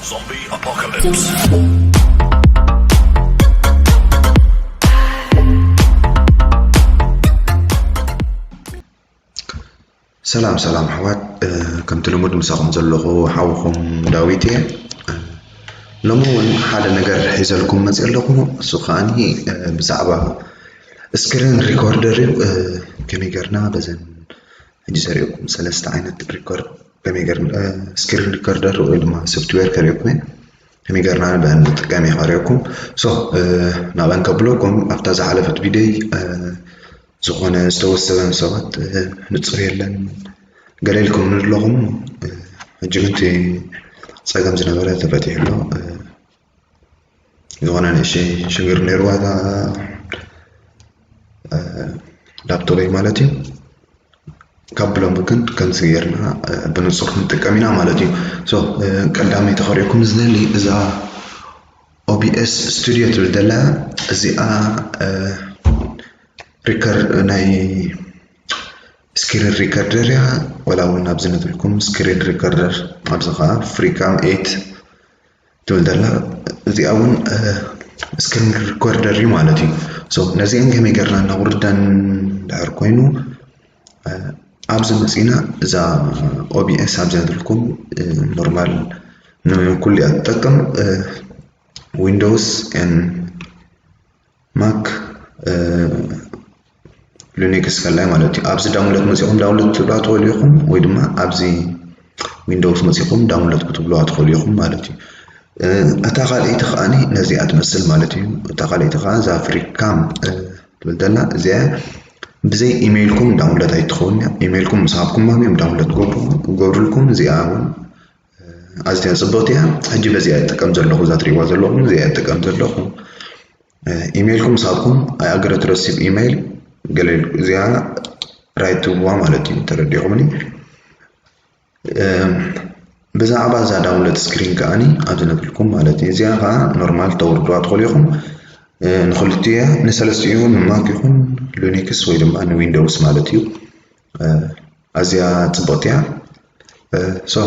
Zombie Apocalypse. ሰላም ሰላም ኣሕዋት ከምቲ ልሙድ ምሳኹም ዘለኹ ሓውኹም ዳዊት እየ ሎሚ እውን ሓደ ነገር ሒዘልኩም መፅ ኣለኹ እሱ ከዓኒ ብዛዕባ ስክሪን ሪኮርደር እዩ ከመይ ገርና በዘን ሕጂ ዘሪኦኩም ሰለስተ ዓይነት ሪኮርድ ከመይ ጌርና ስክሪን ሪከርደር ወይ ድማ ሶፍትዌር ከሪኦኩም እየ ከመይ ጌርና ንበን ንጥቀም እየ ከሪኦኩም ሶ ናበን ከብለኩም ኣብታ ዝሓለፈት ቪድዮይ ዝኾነ ዝተወሰበን ሰባት ንፁር የለን ገለ ኢልኩም ንለኹም ሕጂ ግን እቲ ፀገም ዝነበረ ተፈቲሑ ኣሎ ዝኾነ ንእሽተይ ሽግር ነይርዋ እታ ላፕቶበይ ማለት እዩ ካብ ብሎም ግን ከምዚ ጌርና ብንጹር ክንጥቀም ኢና ማለት እዩ ሶ ቀዳሚ ተኸሪኦኩም ዝደሊ እዛ ኦቢኤስ ስቱድዮ ትብል ደላ እዚኣ ሪከር ናይ ስክሪን ሪከርደር እያ ወላ እውን ኣብዚ ነትብልኩም ስክሪን ሪከርደር ኣብዚ ከዓ ፍሪካም ኤት ትብል ዘላ እዚኣ እውን ስክሪን ሪኮርደር እዩ ማለት እዩ ሶ ነዚአን ከመይ ገርና እናውርዳን ድሕር ኮይኑ ኣብዚ መፂና እዛ ኦቢኤስ ኣብዚያ ትልኩም ኖርማል ንኩሉ እያ ትጠቅም ዊንዶውስ ን ማክ ሊኒክስ ከላይ ማለት እዩ ኣብዚ ዳውንሎድ መፂኹም ዳውንሎድ ክትብልዋ ትኽእሉ ኢኹም ወይ ድማ ኣብዚ ዊንዶውስ መፂኹም ዳውንሎድ ክትብልዋ ትኽእሉ ኢኹም ማለት እዩ እታ ካልኣይቲ ከዓኒ ነዚኣ ትመስል ማለት እዩ እታ ካልኣይቲ ከዓ እዛ ፍሪካም ትብል ዘላ እዚኣ ብዘይ ኢሜይልኩም ዳውንሎድ ኣይትኸውን እያ ኢሜይልኩም ምስ ሃብኩሞም እዮም ዳውንሎድ ክገብርልኩም እዚኣ እውን ኣዝያ ጽብቕቲ እያ ሕጂ በዚኣ ይጥቀም ዘለኹ እዛ ትሪእዋ ዘለኹም እዚኣ ይጥቀም ዘለኹ ኢሜይልኩም ምሳኩም ኣይኣገረ ትረስብ ኢሜይል ገለ እዚኣ ራይት ትብዋ ማለት እዩ ተረዲኹምኒ ብዛዕባ እዛ ዳውንሎድ ስክሪን ከዓኒ ኣብዚ ነብልኩም ማለት እዩ እዚኣ ከዓ ኖርማል ተወርድዋ ትኽእሉ ኢኹም ንክልቲኡ ንሰለስቲኡ ንማክ ይኹን ሉኒክስ ወይ ድማ ንዊንዶውስ ማለት እዩ ኣዝያ ጽብቕቲ እያ ሶ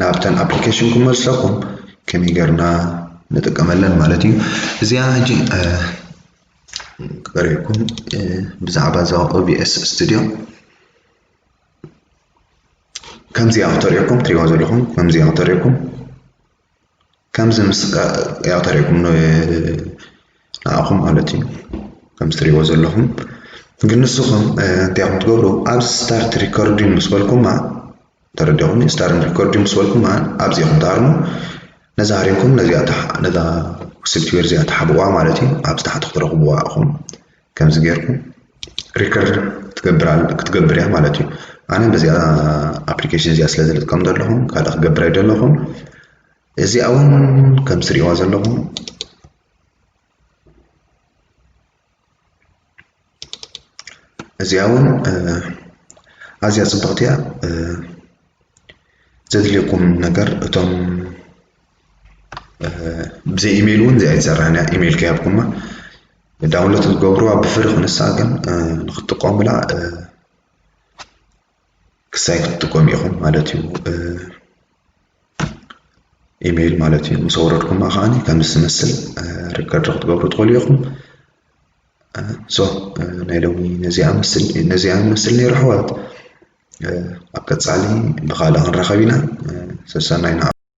ናብተን ኣፕሊኬሽን ክመልሰኩም ከመይ ጌርና ንጥቀመለን ማለት እዩ እዚኣ ሕጂ ክቀሪብኩም ብዛዕባ እዛ ኦቢኤስ ስቱድዮ ከምዚኣ ክተሪኦኩም ትሪእዋ ዘለኹም ከምዚኣ ክተሪኦኩም ከምዚ ምስ ያው ተሪእኩም ንኣኹም ማለት እዩ ከምዚ ትሪእዎ ዘለኹም ግን ንስኹም እንታይ ኢኹም ትገብሩ ኣብዚ ስታርት ሪኮርዲንግ ምስ በልኩማ ተረዲኹም ስታርት ሪኮርዲንግ ምስ በልኩማ ኣብዚ ኢኹም ትሃርሙ ነዛ ሃሪምኩም ነዛ ሶፍትዌር እዚኣ ትሓብእዋ ማለት እዩ ኣብዚ ታሕቲ ክትረኽብዋ ኢኹም ከምዚ ጌርኩም ሪከርድ ክትገብር ክትገብር እያ ማለት እዩ ኣነ በዚኣ ኣፕሊኬሽን እዚኣ ስለ ዝልጥቀም ዘለኹ ካልእ ክገብር ኣይደለኹን እዚኣ እውን ከም ትሪእዋ ዘለኹም እዚኣ እውን ኣዝያ ፅብቕቲ እያ ዘድልየኩም ነገር እቶም ብዘይ ኢሜይል እውን እዚኣ ይትሰርሕ እያ ኢሜይል ከይሃብኩማ ዳውንሎድ ክትገብሩዋ ብፍሪ ክንሳ ግን ንክትጥቀሙላ ክሳይ ክትጥቀሙ ኢኹም ማለት እዩ ኢሜይል ማለት እዩ ምስ ኣውረድኩማ ከዓኒ ከም ዝመስል ሪከርድ ክትገብሩ ትኽእሉ ኢኹም ሶ ናይ ሎሚ ነዚኣ ምስል ነዚኣ ምስል ነይሩ ኣሕዋት ኣብ ቀፃሊ ብካልእ ክንራኸብ ኢና ሰሰናይ